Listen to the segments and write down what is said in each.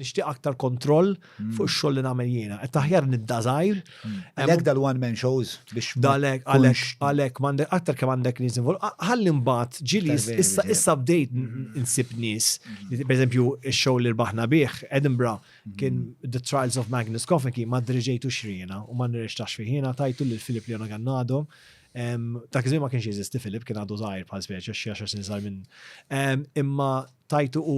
nixtieq aktar kontroll mm. fuq ix-xogħol li nagħmel jiena. Qed aħjar nibda żgħir. Mm. Għalhekk dal-one man shows biex dalek għalhekk għalhekk m'għandek aktar kemm għandek nies invol. Ħalli mbagħad ġili issa issa bdejt mm. insib nies. Pereżempju x-show li rbaħna bih Edinburgh kien The Trials of Magnus Koffeki ma driġejtu xriena u ma nirrextax fih jiena tajtu lil Filip Leona Gannado Ta' kizmi ma kienx jeżisti Filip, kien għadu zaħir bħal speċi, xie għaxar sin minn. Imma tajtu u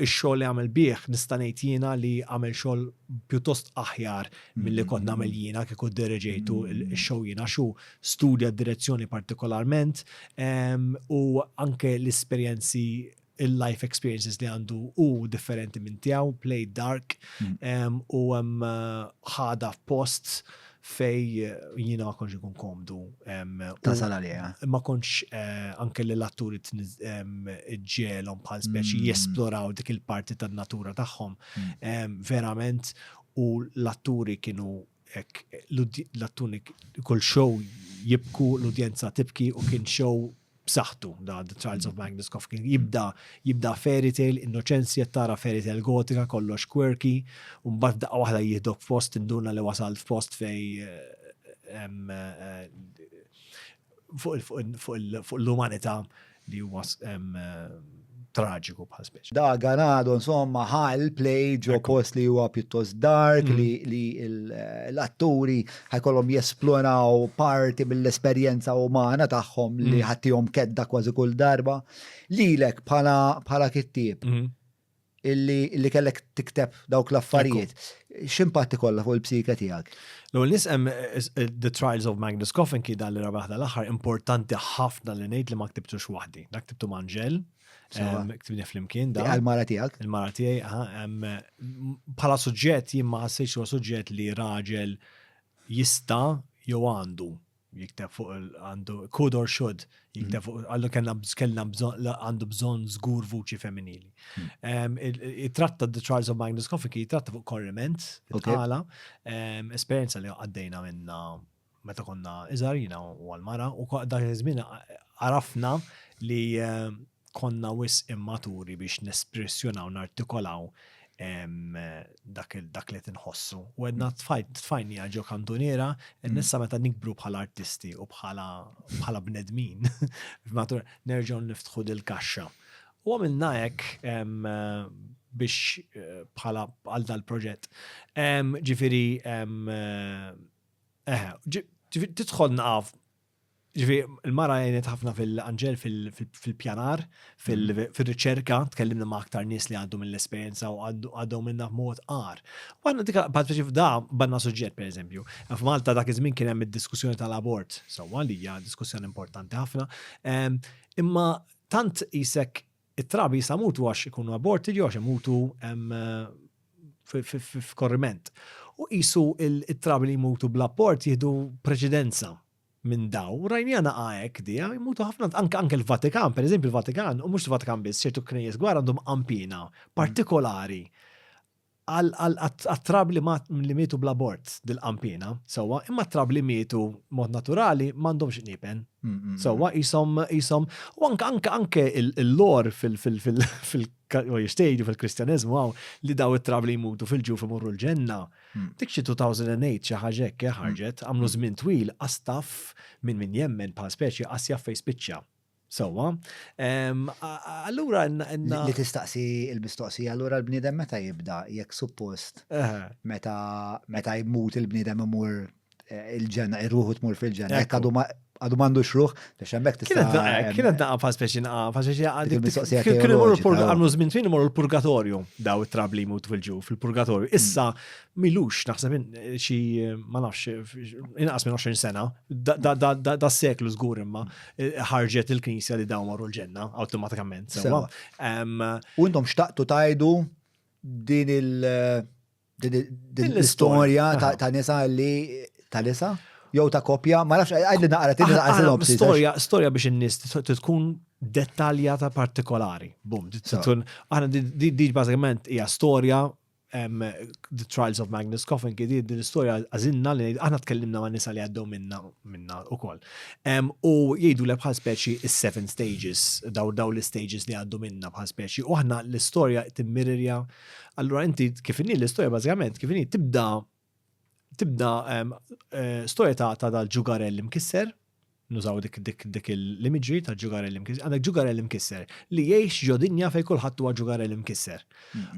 Ix-xogħol li għamel bih nista' ngħid jiena li għamel xogħol pjuttost aħjar milli kont nagħmel jiena kieku ddereġejtu x-show jien għax hu studja d-direzzjoni partikolarment u anke l-esperjenzi il-life experiences li għandu hu differenti minn tiegħu, played dark u ħadha f'post fej jina ma konx ikun komdu. Tasal għalija. Ma konx eh, anke li l-atturi ġelom bħal speċi mm. jesploraw dik il-parti tan natura tagħhom. Mm. Verament, u l-atturi kienu l-atturi kull show jibku l-udjenza tibki u kien show b'saħħtu da The Trials of Magnus Kofkin. Jibda jibda fairy tale, innoċenzi qed tara fairy tale gotika kollox quirky, u mbagħad daqqa waħda jihdok f'post induna li wasal f'post fej eh, eh, fuq l-umanità li huwa traġiku bħal speċi. Da Ganado, insomma, ħal play ġo post li huwa pjuttost dark mm. li, li l-atturi ħajkollhom jesploraw parti mill-esperjenza umana tagħhom li mm. ħattihom kedda kważi kull darba. Lilek bħala bħala kittieb. Mm. illi kellek tikteb dawk l-affarijiet, x'impatt ikollha fuq il-psike tiegħek? L-ewwel nisem The Trials of Magnus Coffin ki dan li rabaħ l-aħħar importanti ħafna li ngħid li ma ktibtux waħdi. Dak ktibtu Manġel, ktibni flimkien da. Il-mara tiegħek? Il-mara tiegħi, bħala suġġett jien ma ħassejx huwa suġġett li raġel jista' jew għandu jikteb fuq għandu could or should jikteb mm. fuq għallu kellna kellna bżonn għandu bżonn żgur vuċi femminili. Mm. Jitratta The Trials of Magnus Coffin jitratta fuq korriment tala esperjenza li għaddejna minna meta konna iżarina u għal-mara u dak iż-żmien għarafna li konna wisq immaturi biex nespressjonaw, nartikolaw dak li tinħossu. U għedna tfajni għagħu kantuniera, mm. nissa meta nikbru bħala artisti u bħala bnedmin, matur nerġaw niftħu dil-kaxxa. U għamilna hekk biex eh, bħala għal dal-proġett. Ġifiri, eh, tidħol naqaf Ġifi, il-mara għenet ħafna fil-anġel fil-pjanar, fil-riċerka, tkellimna ma' aktar nis li għaddu mill-esperienza u għaddu minna mod għar. U għanna dika, bħat biex f'da, banna suġġet, per eżempju, f'Malta dak iż-żmien kien hemm id-diskussjoni tal-abort, sewwa li hija diskussjoni importanti ħafna, imma tant isek It-trabi jista' mutu għax ikunu aborted jew għax imutu f'korriment. U qisu it-trabi li jmutu bl-apport jieħdu preċedenza minn daw. U rajnija naqa' hekk di, jmutu ħafna anke l-Vatikan, pereżempju l-Vatikan, u mhux il-Vatikan biss, ċertu knejjes gwar għandhom qampina partikolari Għat-trab li li mietu bl-abort dilqam piena, sewwa, imma t-trab li mietu b'mod naturali m'għandhomx qniepen. Sewwa, qishom, qishom, u anke, anke, anke l-lore fil, fil, fil, fil, u jistgħidu fil-Kristjaneżmu hawn li dawn it-trab li jmutu fil-ġuf imorru l-ġenna. Dik xi 2008, xi ħaġa hekk, eh, ħarġet, għamlu żmien twil, qas taf, min, min jemmen bħal speċi, qas jaf fejn spiċċa. Sewwa. Allura għandna. Li tistaqsi il-mistoqsija, allura l-bniedem meta jibda, jekk suppost, meta jmut il-bniedem imur eh, il-ġenna, irruħu tmur fil-ġenna, jekk għadu għadu mandu xruħ, biex hemmhekk tista' kienet naqqa fa' speċi naqqa fa' speċi għandi. Kien imur għamlu żmien fin imur il-purgatorju daw it-trabli jmutu fil-ġuf, il-purgatorju. Issa milux naħseb xi ma nafx inqas minn 20 sena, da seklu żgur imma eh, ħarġet il-Knisja li dawn marru l-ġenna awtomatikament. U intom xtaqtu tajdu din il- din l-istorja ta' nisa li ta' nisa? Jow ta' kopja, ma nafx għajd li naqra tinna għal Storja, storja biex in-nies tkun dettaljata partikolari. Bum, aħna di bażikament hija storja The Trials of Magnus Coffin kidi din l-istorja għazinna li aħna tkellimna ma' nisa li għaddew minna minna u koll. U jgħidu l bħal speċi is-seven stages, daw daw l-stages li għaddu minna bħal speċi, u aħna l-istorja timmirirja. Allura inti kif inni l-istorja bażikament kif inni tibda tibda storja ta' dal-ġugarell imkisser, nużaw dik dik dik l-imagery ta' ġugarell imkisser, għandek ġugarell imkisser li jgħix ġodinja fej kulħadd huwa ġugarell imkisser.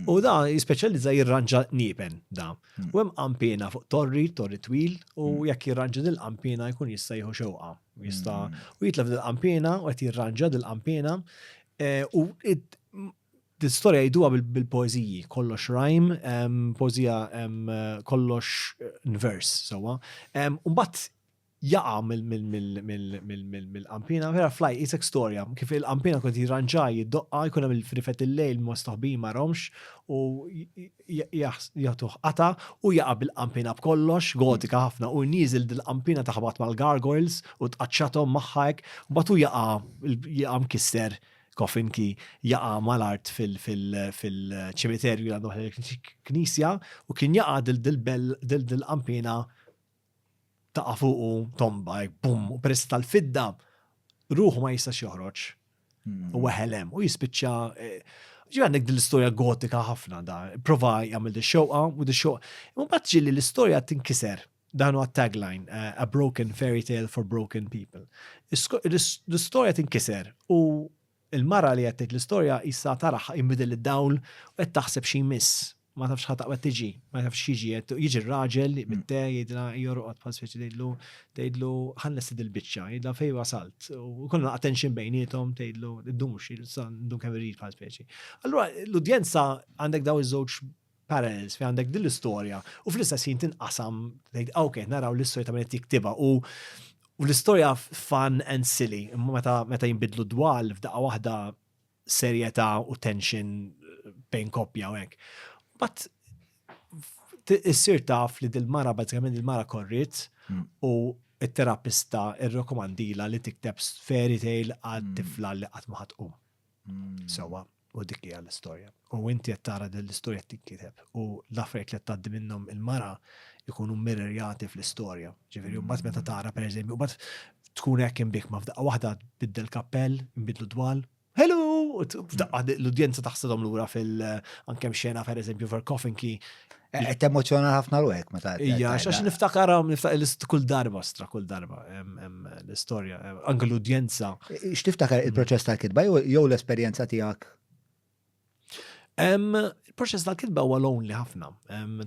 U da jispeċjalizza jirranġa niepen da. U hemm qampina fuq torri, torri twil, u jekk jirranġa dil-qampina jkun jista' jieħu xewqa. Jista' u jitlef dil-qampina u qed jirranġa dil-qampina u Din storja jgħiduha bil-poeżiji, kollox rajm, poeżija kollox nvers sewwa. U mbagħad jaqa' mill-qanpiena, vera flaj, isek storja, kif il-qanpiena kont jirranġa, jiddoqqa, jkun hemm il-frifet il-lejl ma' stoħbin ma' romx u jagħtuh qata' u jaqa' bil-qanpiena b'kollox, gotika ħafna, u nieżel dil-qanpiena taħbat mal-gargoyles u tqaċċathom magħha hekk, u mbagħad hu jaqa' mkisser Coffin ki jaqa mal-art fil-ċimiterju li għandu il-knisja u kien jaqa dil-qampina taqa fuqu tomba, bum, u peress tal-fidda, ruħu ma jistax joħroġ. Hmm. U għahelem, u jispiċċa eh, ġi għandek dil-istoria gotika ħafna da, prova jgħamil di xoqa, u di xoqa. Ma batġi li l-istoria tinkiser, Dan huwa tagline, uh, a broken fairy tale for broken people. L-istorja tinkiser u il-mara li qed l-istorja issa taraħ jinbidel id-dawl u qed taħseb xi miss. Ma tafx ħadd qed tiġi, ma tafx jiġi qed jiġi r-raġel li mm. te jidla jorqod bħal speċi tgħidlu tgħidlu ħannes il-biċċa, jidla fejn wasalt u kollha attention bejnietom tgħidlu ddumx ndum kemm irid bħal speċi. Allura l-udjenza għandek daw iż-żewġ parallels fejn għandek din l-istorja u fl-istess ħin tinqasam tgħid ah, ok, naraw l-istorja ta' min qed jiktibha u u l-istorja fun and silly, imma meta meta jinbidlu dwal f'daqqa waħda serjetà u tension eh, bejn koppja u hekk. But t- issir taf li dil-mara bazzikament il-mara korrit Mm. u il-terapista irrekomandila li tikteb fairy tale għad tifla li qatt ma ħadd tqum. Mm. Sewa, U dik hija l-istorja. U inti qed tara din l-istorja tinkiteb u l-affarijiet li qed tgħaddi minnhom il-mara jkunu mirrorjati fl-istorja. Ġifieri mbagħad meta tara pereżempju mbagħad tkun hekk imbik ma f'daqqa waħda tbiddel kappell, nbidlu dwal, hello! F'daqqa l-udjenza taħsidhom lura fil anke xena pereżempju ver coffin key Eh, qed emozjona ħafna ruħek meta. Ija, għax niftakar niftakar kull darba stra kull darba l-istorja, anke l-udjenza. Eh, x'tiftakar il-proċess tal-kitba jew l-esperjenza tiegħek? Il-proċess tal-kitba huwa lonely ħafna.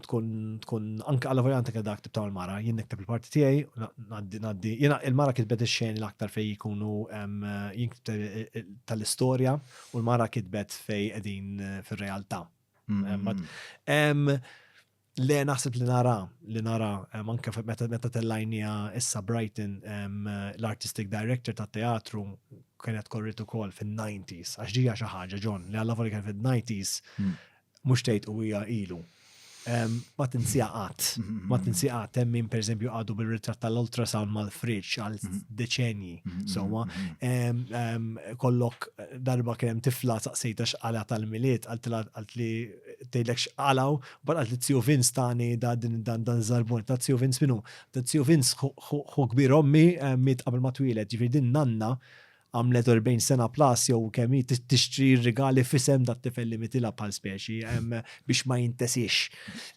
Tkun tkun anke għal vojanta kien dak tibtaw il-mara, jien nikteb il-parti tiegħi, ngħaddi ngħaddi. Jiena il-mara kitbet ix-xeni l-aktar fejn jkunu jinktab tal-istorja u l-mara kitbet fejn qegħdin eh, fir-realtà. Le naħseb li nara, li nara, anke meta meta tellajnija issa Brighton, l-artistic director ta' teatru kienet korrit ukoll fin-90s, għax ġija xi ħaġa ġon li għalla voli kien fin-90s hmm. mhux tgħid u hija ilu. Ma tinsija qatt, ma tinsija qatt hemm min pereżempju għadu bil-ritratt tal-ultrasound mal-friġġ għal hmm. deċenji. Mm-hmm. Sewwa, mm-hmm. kollok darba kien hemm tifla saqsejta x'qala tal-miliet, għalt li tgħidlek x'qalaw, bar għalt li Tio Vince tani da din dan dan żarbun ta' Tio Vince minnu. Ta' Tio Vince hu kbir ommi miet qabel ma twieled, ġifier din nanna għamlet 40 sena plus jew kemm tixtri rigali fisem dat tifel li mitila bħal speċi. biex ma jintesix.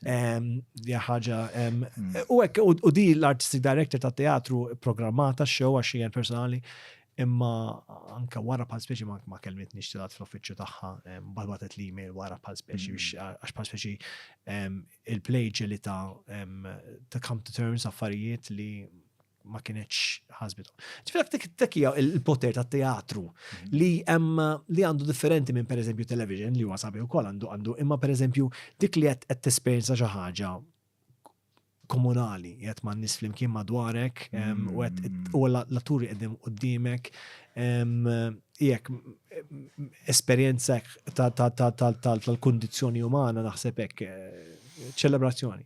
Dija ħaġa. U hekk u di l-artistic director ta' teatru programmata show għax hija personali imma anka wara bħal speċi ma kelmet nixtilat fl-uffiċċju tagħha balbatet li email wara bħal speċi mm. għax bħal speċi il-play ġeli ta' come to terms affarijiet li ma kienieċ ħasbitom. Ġifir dik tekkija il-poter ta' teatru mhm. li hemm li għandu differenti minn per eżempju television li huwa sabi wkoll għandu għandu imma per eżempju dik li qed tesperjenza xi ħaġa komunali, jgħet ma' nis flimkien madwarek, mhm. u għet u l-atturi għedim u d-dimek, jek esperienza tal-kondizjoni umana naħseb hekk eh, ċelebrazzjoni.